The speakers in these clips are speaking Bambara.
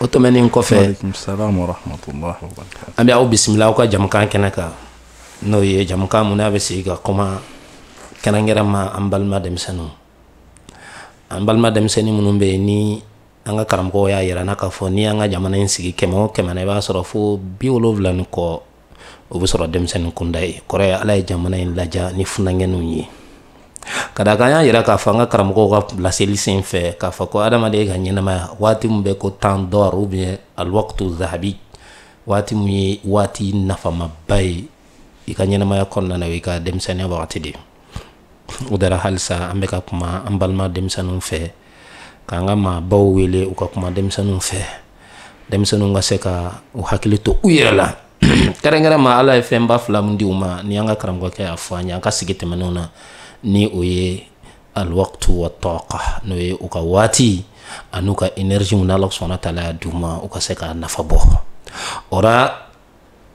o tɛmɛnen kɔfɛ an bɛ aw bisimila aw ka jamukan kɛnɛ kan n'o ye jamukan mun na an bɛ sigi ka kuma kɛrɛnkɛrɛn ma an balima denmisɛnninw an balima denmisɛnnin minnu bɛ yen ni an ka karamɔgɔw y'a yira an na k'a fɔ ni an ka jamana in sigi kɛmɛ o kɛmɛ na i b'a sɔrɔ fo bi wolonwula ni kɔ o bɛ sɔrɔ denmisɛnnin kunda ye kɔrɔ ye ala ye jamana in ladiya ni funankɛninw ye ka d'a kan an y'a yira k'a fɔ an ka karamɔgɔw ka laseli sen fɛ k'a fɔ ko adamaden ka ɲɛnamaya waati min bɛ ko temps d'or ou bien alwaktu zahabi waati min ye waati nafamaba ye i ka ɲɛnamaya kɔnɔna na o y'i ka denmisɛnninya wagati de o de ra halisa an bɛ ka kuma an balima denmisɛnninw fɛ k'an ka maabaw wele u ka kuma denmisɛnninw fɛ denmisɛnninw ka se ka u hakili to u yɛrɛ la kɛrɛnkɛrɛn ma ala ye fɛnba fila min di u ma ni an ka karamɔgɔkɛ y'a fɔ an ye an ka sigi tɛmɛnenw na ni o ye alwaktu wa taka n'o ye u ka waati an'u ka énergie mun ala subhanahu wa taala y'a d'u ma u ka se ka nafa bɔ o ra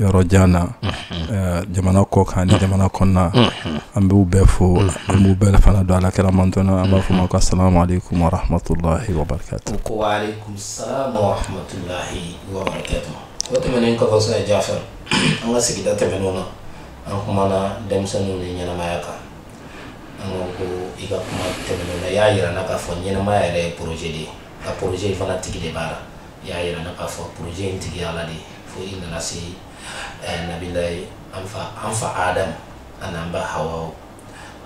yɔrɔ jan na jamana kɔ kan ni jamana kɔnɔna an b'u bɛɛ fo an b'u bɛɛ fana don ala kɛra mant an b'a fɔ ma ka sa tɛmɛnmaya kan y'a jira ka fɔ ɲɛnamaya yɛrɛ pze de ye ka pzse fana tigi de b'a la i y'a yira an na k'a fɔ projet in tigi ala de ye fo i nana se eh, nabiyullahi an fa adam an'an ba hawa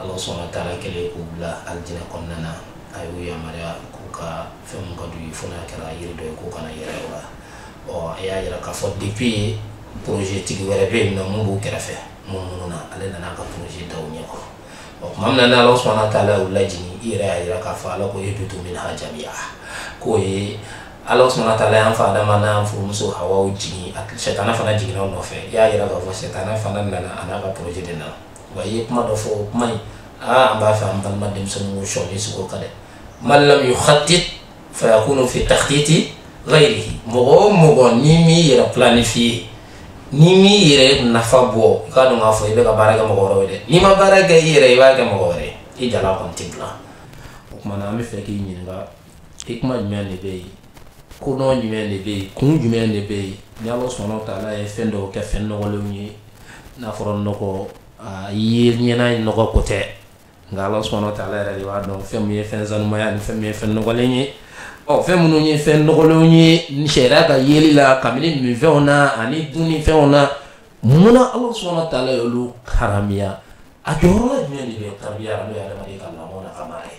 ala subhanahu wa taala kɛlen k'u bila alijinɛ kɔnɔna na a y'u yamaruya k'u ka fɛn mun ka d'u ye fo n'a kɛra yiri dɔ ye k'u kana gɛrɛ o la ɔ a y'a yira k'a fɔ depuis projet tigi wɛrɛ bɛ yen nɔ mun b'u kɛrɛfɛ munumunu na ale nana a ka projet da u ɲɛkɔrɔ o tuma min na ni ala subhanahu wa taala u lajigin i yɛrɛ y'a yira k'a fɔ ala ko ihbitu minha jamiya k'o ye ala subhanahu wa taala y'an fa adama n'a furumuso hawaw jigin sɛtana fana jiginna u nɔfɛ i y'a yira k'a fɔ sɛtana fana nana an'a ka projet de nana wa i ye kuma dɔ fɔ o kuma in aa an b'a fɛ an balima denmisɛnninw sɔɔni sigi o kan dɛ man lam yukhattit fayakunu fi takhtiti ghayrihi mɔgɔ o mɔgɔ n'i m'i yɛrɛ planifier n'i m'i yɛrɛ nafa bɔ i k'a dɔn k'a fɔ i bɛ ka baara kɛ mɔgɔ wɛrɛw ye dɛ n'i ma baara kɛ i yɛrɛ i b'a kɛ mɔgɔ wɛrɛ ye i jalan kɔni tɛ bila o tuma na an b'a fɛ k'i ɲininka hikma jumɛn de bɛ yen kodɔn jumɛn de bɛ yen kun jumɛn de bɛ yen ni ala subhanahu wa taala ye fɛn dɔw kɛ fɛn nɔgɔlenw ye n'a fɔra nɔgɔ a ye ɲɛna ye nɔgɔ ko tɛ nka ala subhanahu wa taala yɛrɛ de b'a dɔn fɛn min ye fɛn sanuman ye ni fɛn min ye fɛn nɔgɔlen ye ɔ fɛn minnu ye fɛn nɔgɔlenw ye sariya ka yeli la k'a minɛ minfɛnw na ani dunnifɛnw na mun na ala subhanahu wa taala ye olu haramiya a jɔyɔrɔ jumɛn de bɛ tarbiya n'o ye adamaden ka lamɔ n'a ka mara ye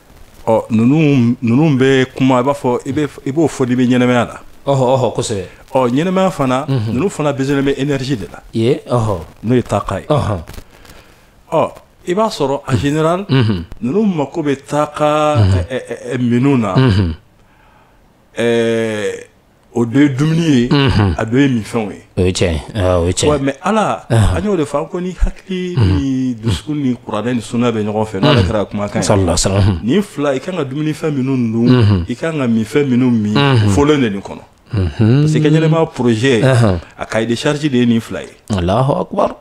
ɔ ninnu ninnu bɛ kuma i b'a fɔ i bɛ i b'o fɔ n'i bɛ ɲɛnamaya la ɔhɔ ɔhɔ kosɛbɛ ɔ ɲɛnamaya fana ninnu fana besoin bɛ énergie de la ye ɔhɔ n'o ye taaka ye ɔhɔ ɔ i b'a sɔrɔ en général ninnu mako bɛ taaka ɛ, ɛ, ɛ, ɛ, minnu na ɛɛ o dɔ ye dumuni ye mhm. a dɔ ye minfɛnw ye o ye tiɲɛ ye ah, o ye tiɲɛ ye mais ala an y'o de fɔ an ko ni hakili mhm. ni dusukun ni kuranɛ ni sunna bɛ ɲɔgɔn fɛ n'ala mhm. kira kumakan ye nin fila i kan ka dumunifɛn minnu dun i kan ka minfɛn minnu min fɔlen de nin kɔnɔ parce que i ka ɲɛnamaya projet a cahier de charge de ye nin fila ye alahu akubar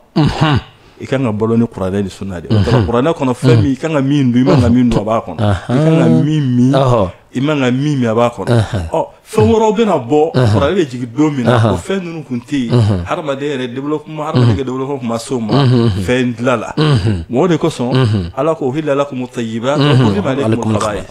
i ka kan ka balo ni kuranɛ ni sunna de kuranɛ kɔnɔ fɛn min i kan ka min dun i man ka min dun a b'a kɔnɔ i kan ka min min i man ka min min a b'a kɔnɔ ɔ fɛn wɛrɛw bɛna bɔ kuranɛ bɛ jigin don min na o fɛn ninnu kun tɛ yen hadamaden yɛrɛ développement hadamaden ka développement kun ma s'o ma fɛn dilan la o de kosɔn ala ko uhilla lakum at-tayyibat wa hurrima alaykum al-khaba'ith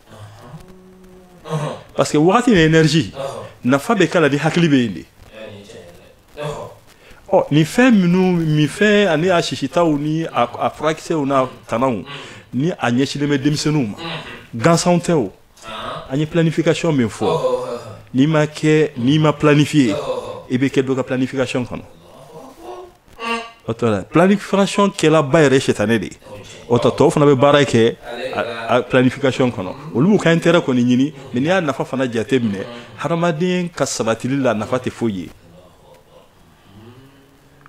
parce que wagati ni énergie nafa bɛ k'a la ni hakili bɛ yen de ɔ nin fɛn minnu minfɛn ani a sisitaw ni a furakisɛw n'a tanaw ni a ɲɛsinnen bɛ denmisɛnninw ma gansan tɛ o an ye planification min fɔ n'i ma kɛ n'i ma planifier i bɛ kɛ dɔ ka planification kɔnɔ o tɔ la planification kɛlaba yɛrɛ ye sitanɛ de ye o tɔ tɔw fana bɛ baara kɛ planification kɔnɔ olu b'u ka intérêt kɔni ɲini mais n'i y'a nafa fana jate minɛ hadamaden ka sabatili la nafa tɛ foyi ye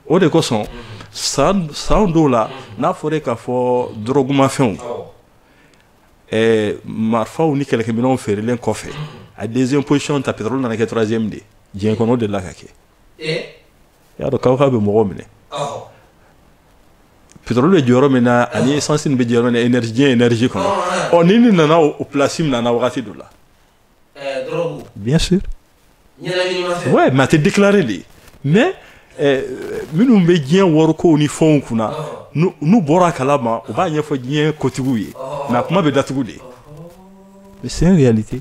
o de kosɔn san san dɔw la n'a fɔra k'a fɔ dɔrɔgumafɛnw ɛɛ marifaw ni kɛlɛkɛminɛnw feerelen kɔfɛ a deuxième position ta pétrole nana kɛ troisième de ye diɲɛ kɔnɔ o delila ka kɛ i y'a dɔn kabako bɛ mɔgɔw minɛ pétrole bɛ jɔyɔrɔ min na ani essence bɛ jɔyɔrɔ min na énergie diɲɛ énergie kɔnɔ ɔ nin nin nana o place minɛ wagati dɔ la bien sûr ouais mais a tɛ déclarer de mais eh, minnu bɛ diɲɛ warikow ni fɛnw kunna n'u bɔra a kalama u b'a ɲɛfɔ diɲɛ kotigiw ye mais a kuma bɛ datugu de mais c'est une réalité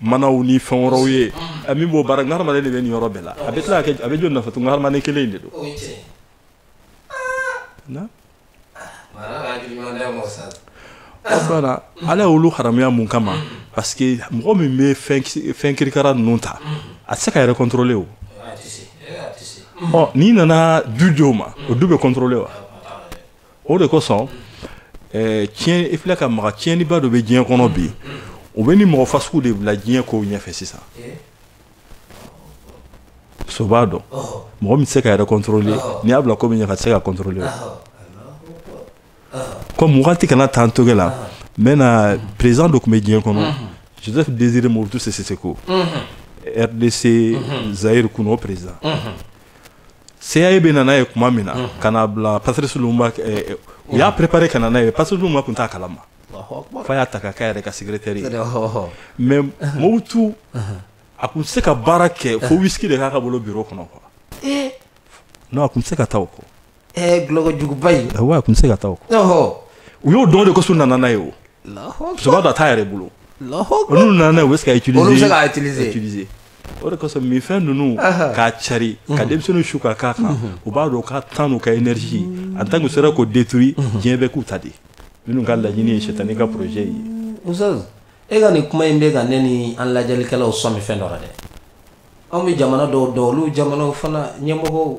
manaw ni fɛn wɛrɛw ye a min b'o baara nka hadamaden de bɛ nin yɔrɔ bɛɛ la a bɛ tila ka kɛ a bɛ joli nafa to nka hadamaden kelen in de don na fana ala y'olu haramuya mun kama parce que mɔgɔ min bɛ fɛn kirikara ninnu ta a tɛ se k'a yɛrɛ contrôler o ɔ n'i nana du di o ma o du bɛ contrôler wa o de kosɔn eh, tiɲɛ i filɛ ka maga tiɲɛniba dɔ bɛ diɲɛ kɔnɔ bi o bɛ nin mɔgɔ fasugu de bila diɲɛ kow ɲɛfɛ sisan so b'a dɔn mɔgɔ min tɛ se k'a yɛrɛ contrôler n'i y'a bila ko min ɲɛ k'a tɛ se k'a contrôler comme wagati kana taa n toge la n bɛna président dɔ tun bɛ diɲɛ kɔnɔ Joseph Désiré Mobutu Sese Seko RDC Zaïre kunun o président CIA bɛ na n'a ye kuma min na ka n'a bila Patrice Lumumba eh, eh, u y'a préparer ka na n'a ye Patrice Lumumba tun t'a kalama f'a y'a ta ka k'a yɛrɛ ka secrétaire ye mais Mobutu a tun tɛ se ka baara kɛ fo whisky de k'a ka bolo bureau kɔnɔ quoi eh. non a tun tɛ se ka taa o kɔ dulɔkojuguba in wa a tun tɛ se ka taa o kɔ u y'o dɔn de kosɔn u nana n'a ye o musokɔrɔba dɔ a t'a yɛrɛ bolo n'u nana n'a ye u bɛ se k'a utiliser olu bɛ se k'a utiliser o de kosɔn minfɛn ninnu k'a cari ka denmisɛnninw su ka k'a kan u b'a dɔn ka tan n'u ka énergie en tant que u sera k'o détruit diɲɛ bɛ k'u ta de minnu ka laɲini ye sitani ka projet ye Ustaz e ka nin kuma in bɛ ka ne ni an lajɛlikɛlaw sɔmi fɛn dɔ la dɛ anw bɛ jamana dɔw dɔn olu jamanaw fana ɲɛmɔgɔw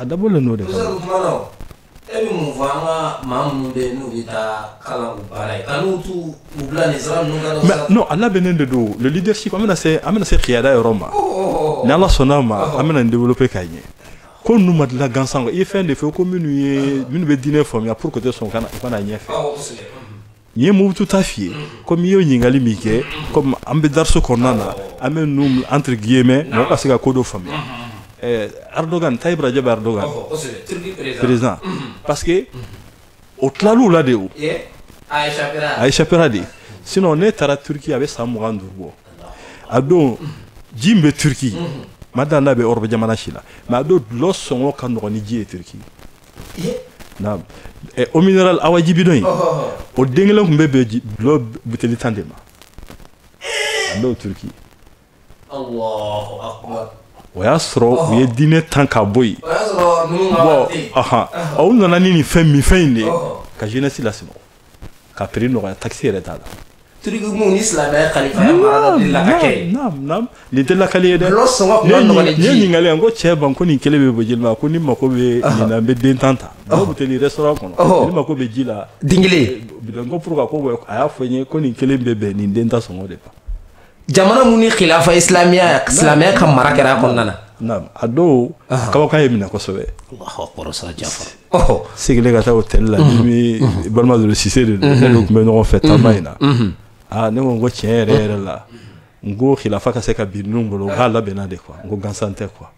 a dabɔlen n'o de kama Professeur, o kuma na o, e bɛ mun fɔ an ka maa minnu bɛ yen n'u bɛ taa kalan k'u baara ye ka n'u t'u u bila nin sira ninnu kan Mais non a labɛnnen de don le leadership an bɛna se an bɛna se kiyada yɔrɔ ma ni Ala sɔnn'a ma an bɛna nin développer k'a ɲɛ ko ninnu ma dilan gansan kɔ i ye fɛn de fɔ ko minnu ye minnu bɛ diinɛ faamuya pour que u tɛ sɔn u ka na u ka na ɲɛfɛ awɔ kosɛbɛ ni n ye Mobutu ta f'i ye comme i y'o ɲininkali min kɛ comme an bɛ dariso kɔnɔna na an bɛ ninnu entre guillemets mɔgɔ ka se ka ko dɔ faamuya eh, Erdogan Tayyip Rajab Erdogan président parce que o tilal'u la dɛ o a échappera dɛ sinon ne taara Turquie a bɛ san mugan ni duuru bɔ a don ji min bɛ Turquie ma da n'a bɛ Europe jamana si la mais a don dulɔ sɔngɔ ka nɔgɔn ni ji ye Turquie naam eau minérale awa ji bidon in o den kelen tun bɛ bɛn dulɔ buteli tan de ma a b'o Turquie o y'a sɔrɔ u ye diinɛ tan ka bɔ yen bon u nana ni nin fɛn minfɛn in de ka jeunesse la k'a prix nɔgɔya taxe yɛrɛ t'a la Turquie min ni silamɛya kalifaya marala de la ka kɛ ye naam naam nin tɛ lakali ye dɛ Dɔlɔ sɔngɔ tun ka nɔgɔn ni ji ye. ne ɲininkali n ko cɛba n ko nin kelen bɛ bɔ joli ma ko n'i mako bɛ nin na i bɛ den tan ta dulɔ buteli restaurant kɔnɔ Ɔhɔ. n'i mako bɛ ji la den kelen bidon ko pourquoi ko bɛ- a y'a fɔ n ye ko nin kelen bɛ bɛn nin den tan sɔngɔ de ma jamana mun ni khilafa islamiya silamɛya ka mara kɛra a kɔnɔna na naam a dɔw kabakan ye n minɛ kosɛbɛ seginnen ka taa hôtel la ni bɛ balima dɔ Cissé de don ne n'o tun bɛ ɲɔgɔn fɛ taama in na aa ne ko n ko tiɲɛ yɛrɛ yɛrɛ la n ko khilafa ka se ka bin ninnu bolo u k'a labɛnna de quoi n ko gansan tɛ quoi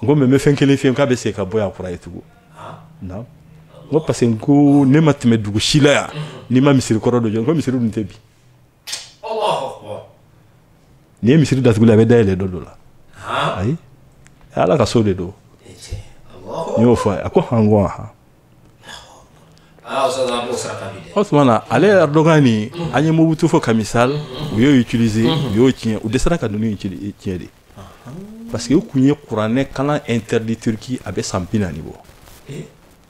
n ko mais n bɛ fɛn kelen f'i ye k'a bɛ segin ka bɔ yan kura ye tugun naam n ko parce que n ko ne ma tɛmɛ dugu si la yan n'i ma misiri kɔrɔ dɔ jɔ n ko misiri dun tɛ bin N'i ye misiri datugu ala b'a dayɛlɛ don dɔ la ayi ala ka so de don n y'o fɔ a ko hɔn o tuma na ale Erdogan ni an ye Mobutu fɔ kami sa u y'o utiliser u y'o tiɲɛ u dɛsɛra ka ninnu tiɲɛ de parce que u tun ye kuranɛ kalan interdit Turquie a bɛ san bi naani bɔ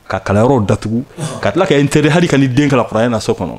ka kalanyɔrɔ datugu ka tila ka interdit hali ka ni den kalan kuranɛ na so kɔnɔ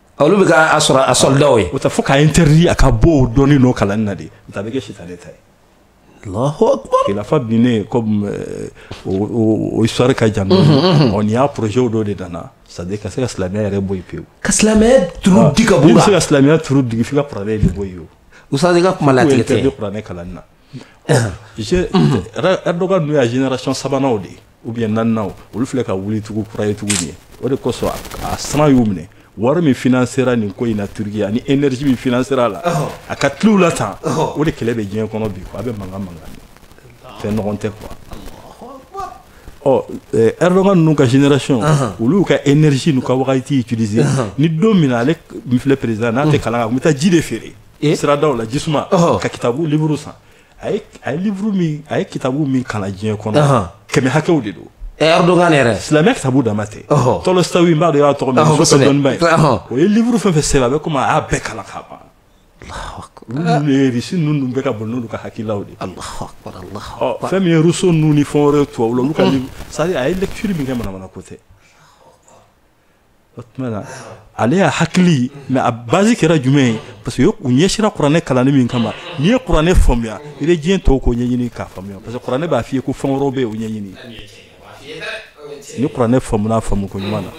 olu bɛ kɛ a sɔrɔ a soldats ye o tɛ fo k'a interdit a ka bɔ o dɔnni n'o kalanni na de o tɛ a bɛ kɛ sitanɛ ta ye Allahu akbar khilafa binnen comme euh, o o- o histoire ka jan dɔɔni ɔ nin y'a projet dɔ de nana c'est à dire ka se ka silamɛya yɛrɛ bɔ yen pewu ka silamɛya turu digi ka bɔ n'i bɛ se la ka silamɛya turu digi f'i ka kuranɛ de bɔ yen o ustaz i ka kuma kunnatigɛ tɛ interdit kuranɛ kalanni na Erdogan ninnu y'a génération sabanan de ye ou bien naaninan olu filɛ ka wuli tugu kura ye tuguni o de kosɔn a siran y'u minɛ wari min financera nin ko in na Turquie ani énergie min financera a la a ka tulow la tan o de kɛlɛ bɛ diɲɛ kɔnɔ bi a bɛ mankan mankan fɛn ɲɔgɔn tɛ quoi ɔ Erdogan ninnu ka génération olu ka énergie n'u ka wagati juru ni don min ale filɛ président n'a tɛ kalan kan a tun bɛ taa ji de feere eh? siradaw la jisuma oh. ka kitabu livre san a ye a ye livre min a ye kitabu min kalan diɲɛ kɔnɔ kɛmɛ hakɛw de don eh, Erdogan yɛrɛ silamɛya kitabu dama tɛ Tolstoï n b'a dɔn i y'a tɔgɔ mɛn Russe dɔnniba ye o ye livre fɛn fɛn sɛbɛn a bɛ komi a y'a bɛɛ kalan k'a ban Russie ninnu dun bɛ ka boli n'olu ka hakililaw de fɛn min ye Rousseau ninnu ni fɛn wɛrɛ tubabu la olu ka c'est à dire a ye lecture min kɛ manamana ko tɛ o tuma na ale y'a hakili mais a base kɛra jumɛn ye parce que u ɲɛsira kuranɛ kalanni min kama n'i ye kuranɛ faamuya i bɛ diɲɛ tɔw ko ɲɛɲini k'a faamuya parce que kuranɛ b'a f'i ye ko fɛn wɛrɛw bɛ yen o ɲɛɲini ni kuranɛ faamuna faamu ko ɲuman na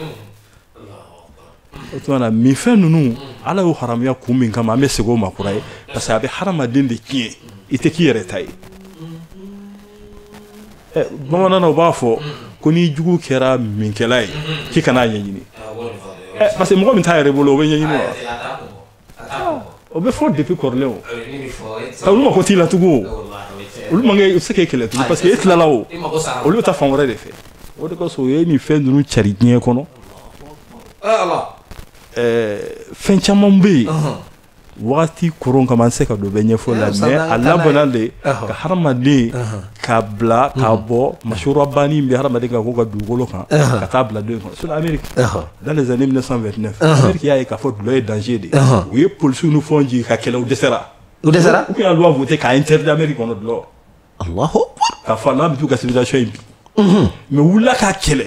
o tuma na minfɛn ninnu ala y'o haramuya kun min kama an bɛ segin o ma kura ye parce que a bɛ hadamaden de tiɲɛ i tɛ k'i yɛrɛ ta ye eh, bamanan na u b'a fɔ ko n'i jugu kɛra minkɛla ye k'i kana a ɲɛɲini eh, parce que mɔgɔ min t'a yɛrɛ bolo o bɛ ɲɛɲini wa o bɛ fɔ depuis kɔrɔlen o ah, olu mako t'i la tugun o olu man kɛ u se k'e kɛlɛ tugun parce que e tilala o olu bɛ taa fan wɛrɛ de fɛ o de kosɔn o ye nin fɛn ninnu cari diɲɛ kɔnɔ fɛn caman bɛ yen wagati koron kama an tɛ se ka don bɛɛ ɲɛfɔ la mais a labɔna de ka hadamaden ka bila ka bɔ masura banni bɛ hadamaden ka ko ka dugukolo kan ka taa bila don kɔnɔ sinon ameriki dans les années 1929 ameriki y'a ye k'a fɔ dulɔ ye danger de u ye polisiw ni fɛnw jigin k'a kɛlɛ u dɛsɛra u dɛsɛra u y'a loi voté k'a interdit ameriki kɔnɔ dulɔ alahu akbar k'a fɔ n'an bɛ t'u ka civilisation in bi mais u wulila k'a kɛlɛ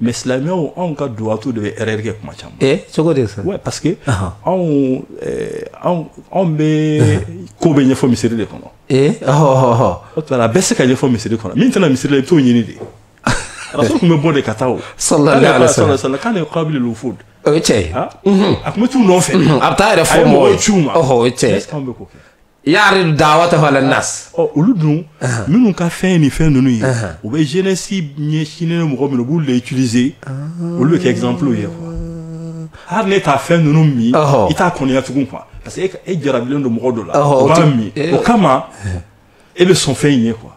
mais silamɛw anw ka duwatu de bɛ erreur kɛ kuma caman eh, cogo de sa parce que anw eh, anw bɛ ko bɛɛ ɲɛfɔ misiri de kɔnɔ eh, o tuma a bɛ se ka ɲɛfɔ misiri kɔnɔ min tɛ na misiri la i bɛ t'o ɲini de rasul tun bɛ bɔ de ka taa o sallallahu alaihi wasallam kana yuqabilul wufud o ye tiɲɛ ye a tun bɛ t'u nɔfɛ a bɛ taa yɛrɛ fɔ mɔgɔw ye a ye mɔgɔw ci u ma o ye tiɲɛ ye anw bɛ k'o kɛ Yari dawatahu alan nas ɔ olu dun minnu ka fɛn ni fɛn ninnu ye u bɛ jeunesse ɲɛsinnen mɔgɔ minnu b'u le utiliser olu bɛ kɛ exemple ye quoi hali n'e t'a fɛn ninnu min i t'a kɔniya tugun quoi parce que e jarabilen don mɔgɔ dɔ la o b'a min o kama e bɛ sɔn fɛn in ye quoi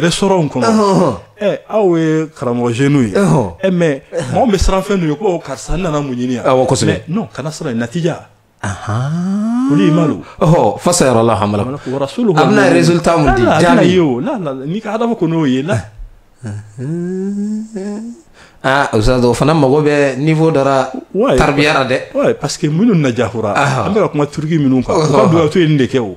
restaurant kɔnɔ aw ye karamɔgɔ jeunes ye ɛ mais maaw bɛ siran fɛn ɲɛ ko karisa nana mun ɲini yan non kana siran natija olu fa sayayɔrɔ la ha n'i ka adamu ko n'o ye la aa o fana mago bɛ niveau dɔ ra taribiya ra dɛ parce que minnu na jakura an bɛ ka kuma turki minnu kan u ka duwatu ye nin de kɛ o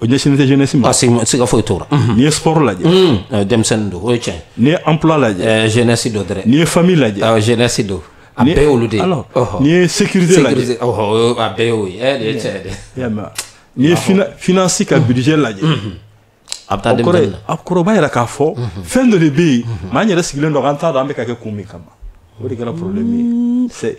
o ɲɛsinnen tɛ jeunesse ma. parce que siga foyi t'o la. n'i ye sport lajɛ. denmisɛnnin don o ye tiɲɛ. n'i ye emploi lajɛ. jeunesse don dɛrɛ. n'i ye famille lajɛ. awɔ jeunesse don. a bɛɛ y'olu de ye. alors n'i ye sécurité lajɛ. sécurité ɔhɔ a bɛɛ y'o ye ɛ nin ye tiɲɛ de. i y'a mɛn n'i ye finance ka budget lajɛ. a bɛ taa denmisɛnnin na. a kɔrɔba yɛrɛ k'a fɔ. fɛn dɔ de bɛ yen. mais an yɛrɛ sigilen don an t'a dɔn an bɛ ka kɛ kun min kama. o de kɛra problème ye.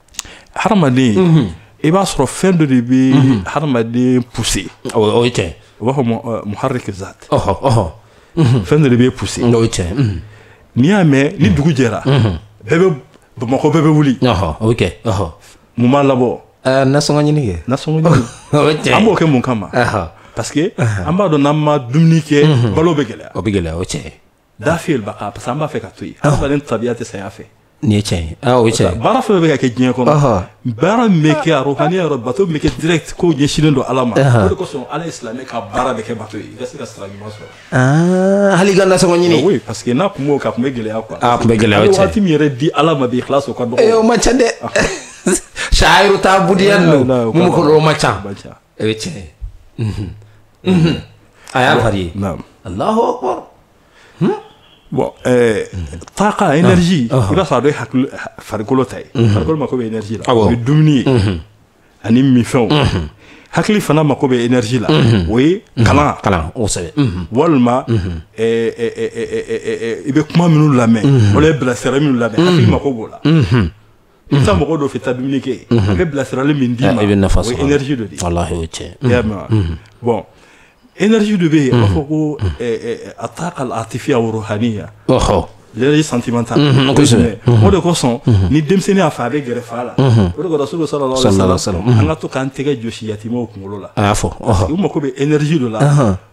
hadamaden i b'a sɔrɔ fɛn dɔ de bɛ hadamaden pousser o ye tiɲɛ u b'a fɔ muharrik zat fɛn dɔ de bɛ pousser o ye tiɲɛ n'i y'a mɛn ni dugu jɛra bɛɛ bɛ bamakɔ bɛɛ bɛ wuli o bɛ kɛ mun b'a labɔ nasɔngɔ ɲini kɛ nasɔngɔ ɲini an b'o kɛ mun kama parce que an b'a dɔn n'an ma dumuni kɛ balo bɛ gɛlɛya o bɛ gɛlɛya o tiɲɛ dafi al baqa parce que an b'a fɛ ka to yen adamaden tabiya tɛ saya fɛ nin ye tiɲɛ ye aa o ye tiɲɛ ye baara fɛn o fɛn bɛ ka kɛ diɲɛ kɔnɔ Ɔhɔ. baara min bɛ kɛ a rɔhaniya yɔrɔ bato min bɛ kɛ direct ko ɲɛsinnen don ala ma Ahan. o de kosɔn ala ye silamɛ ka baara bɛɛ kɛ bato ye i ka se ka sira ɲuman sɔrɔ Aa, hali i ka nasɔngɔ ɲini oui parce que n'a kun m'o kɛ a kun bɛ gɛlɛya quoi Ah, a kun bɛ gɛlɛya, o ye Hali tiɲɛ ye. waati min yɛrɛ di ala ma bi ikhlas o ka dɔgɔ Eh, o man ca dɛ shaayiru taabudiya ninnu mun kɔlɔlɔ man ca man ca o ye tiɲɛ ye a y'a fari ye alahu akbar bon taaka énergie i b'a sɔrɔ a dɔ ye hakili farikolo ta ye farikolo mako bɛ énergie la o ye dumuni ye ani minfɛnw hakili fana mako bɛ énergie la o ye kalan kalan kosɛbɛ walima i bɛ kuma minnu lamɛn wala bilasirali minnu lamɛn hakili mako b'o la i bɛ taa mɔgɔ dɔ fɛ taa dumuni kɛ a bɛ bilasirali min d'i ma i bɛ nafa sɔrɔ o ye énergie dɔ de ye walahi o ye tiɲɛ ye i y'a mɛn wa bon énergie dɔ bɛ yen a b'a fɔ ko ataaka al atifiya wa ruhaniya ɔhɔ l'énergie sentimentale kosɛbɛ o de kosɔn ni denmisɛnnin y'a fa ye a bɛ gɛrɛ fa la o de ko rasulu salalahu alayhi wa salam an ka to k'an tɛgɛ jɔsi yatimɛw kunkolo la a y'a fɔ parce que u mako bɛ énergie dɔ la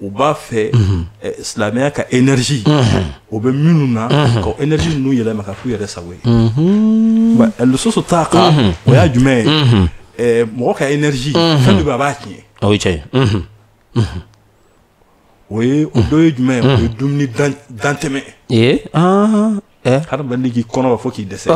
u b'a fɛ mhm. eh, silamɛya ka énergie mhm. o bɛ minnu na mhm. ka énergie ninnu yɛlɛma ka k'u yɛrɛ sago ye eh, lususu taaka o y'a jumɛn ye eh, mɔgɔ ka énergie fɛn dɔ bɛ a b'a tiɲɛ o ye tiɲɛ ye o ye o dɔ ye jumɛn ye o ye dumuni dantɛmɛ ye ah. Eh? hadamaden k'i kɔnɔ fa fo k'i dɛsɛ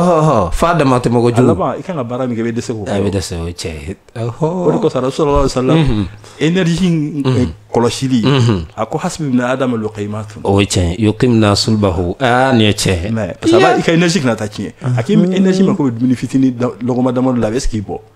f'a dama tɛmɛ kojugu i kan ka baara min kɛ i bɛ dɛsɛ k'o kɛ i bɛ dɛsɛ o ye tiɲɛ ye o de kosɔn rasulu salalahu alayhi wa salam mhm. énergie mhm. eh, kɔlɔsili mhm. a ko hasibi ibn adama lukayimatun o ye tiɲɛ ye yukimina sulubahu aa nin ye tiɲɛ parce que i ka énergie kana taa tiɲɛ a k'i énergie mako bɛ dumuni fitinin lɔgɔma dama dɔ la a bɛ se k'i bɔ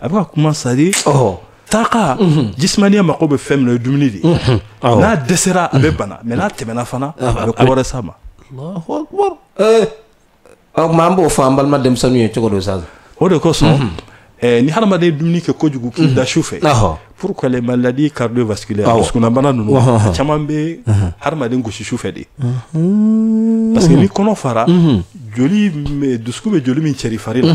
a bɛ ka kuma c'est-à-dire taaka mhm. jismaniya mako bɛ fɛn min na o ye dumuni de ye mhm. n'a dɛsɛra a bɛ mhm. bana mais n'a tɛmɛna fana a bɛ ko wɛrɛ s'a ma alahu akbar o tuma an b'o fɔ an balima denmisɛnninw ye cogo don sa o de kosɔn eh, ni hadamaden ye dumuni kɛ kojugu k'i da su fɛ pourquoi les maladies cardiovasculaires dusukunnabana ninnu a caman bɛ hadamaden gosi su fɛ de parce que ni kɔnɔ fara joli dusukun bɛ joli min cɛri fari la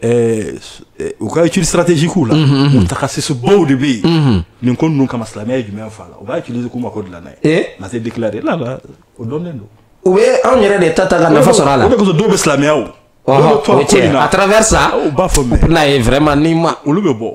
Eh, eh, u ka étude stratégique la mutakasisibaw de bɛ yen nin ko ninnu kama silamɛya ye jumɛn fa la u b'a utiliser k'u mako dilan n'a ye ma se déclarer la la o dɔnnen don u bɛ anw yɛrɛ de ta ta ka nafa sɔrɔ a la o de kosɔn dɔw bɛ silamɛya à travers ça u b'a fɔ mais n'a ye vraiment ni ma olu bɛ bɔ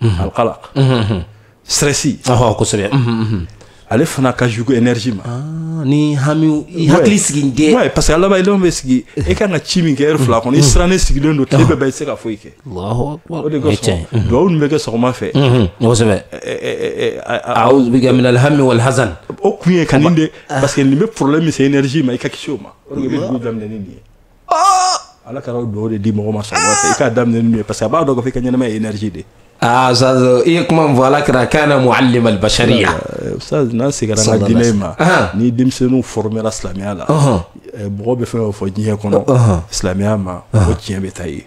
Mhm. alqalaq mhm. stressi ɔhɔ kosɛbɛ mhm, ale fana ka jugu énergie ma ah, ni hamiw i hakili sigi dɛ ouais parce que a laban i bɛ sigi e kan ka ci min kɛ heure fila kɔnɔ i sirannen sigilen don tile bɛɛ bɛɛ i tɛ se ka foyi kɛ o de kosɔn duwawu min bɛ kɛ sɔgɔma fɛ kosɛbɛ awuzu bika minal hami wal hazan o kun ye ka nin de parce que nin bɛ problème min se énergie ma i ka kisi o ma o de bɛ dugu daminɛ ni nin ye ala kira ye dugawu de di mɔgɔ ma sɔgɔma fɛ i k'a daminɛ n'u ye parce que a b'a dɔn k'a fɔ i ka ɲɛnamaya ye énergie de aa ustaz i ye kuma min fɔ ala kira kana muallim al bashariya ustaz n'an seginna an ka diinɛ ma ni denmisɛnninw formera silamɛya la mɔgɔ bɛ fɛn o fɛn fɔ diɲɛ kɔnɔ silamɛya ma o tiɲɛ bɛ taa yen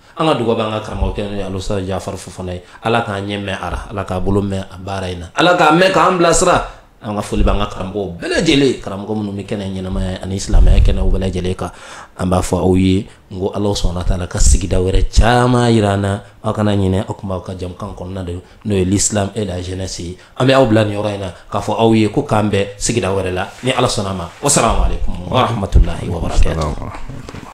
an ka dugawu b'an ka karamɔgɔkɛ n'o ye alustaz jafari fofana ye ala k'an ɲɛ mɛn a ra ala k'a bolo mɛn a baara in na ala k'a mɛn k'an bilasira an ka foli b'an ka karamɔgɔw bɛɛ lajɛlen karamɔgɔ minnu bɛ kɛnɛ ɲɛnamaya ani silamɛya kɛnɛ bɛɛ lajɛlen kan an b'a fɔ aw ye n ko ala subahana wa taala ka sigida wɛrɛ caman yira an na aw kana ɲinɛ aw tun b'aw ka jɛmukan kɔnɔna de n'o ye l'islam et la jeunesse ye an bɛ aw bila nin yɔrɔ in na k'a fɔ aw ye ko k'an bɛn sigida wɛrɛ la ni ala sɔnna a ma wasalamu alaikum warahmatulahi wabarakatuh